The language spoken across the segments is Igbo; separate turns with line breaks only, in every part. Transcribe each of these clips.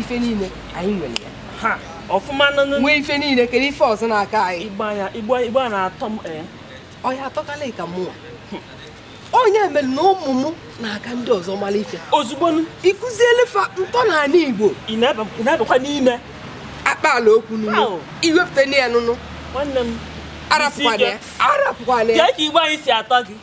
ife
niile anyị nwere ya
ha ọfụma nọ n'ụlọ nwee ife niile kedu
ife ọzọ na-aka anyị igbo ya igbo igbo
na-atọ m ee ọ
ya atọkala ka mụnwa onye mere na ụmụ m na-aka ndị ọzọ mara ife ozugbo nụ, ịkụziele fa ntọ na ala igbo ị na-ebe- ị na-ebekwa n'ime akpaala okwu nunu ahụ iwepụta ya nụnụ nwanne m arapụkwana ya arapụkwana ya ka ka igbo anyị si atọ gị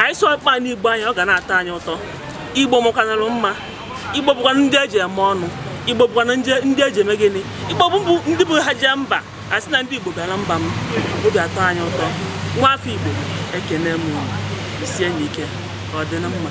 anyị sụọkwanụ igbo anyị ọ ga na-atọ anyị ụtọ igbo mụ kanalụ mma igbo bụkwa ndị eji eme ọnụ igbo bụkwa na ndị eji eme gịnị igbo bụ ndị bụ ha jee mba a sị na ndị igbo bịara mba m obi atọ anyị ụtọ nwa afọ igbo ekene m jisienụ ike ọ dị na mma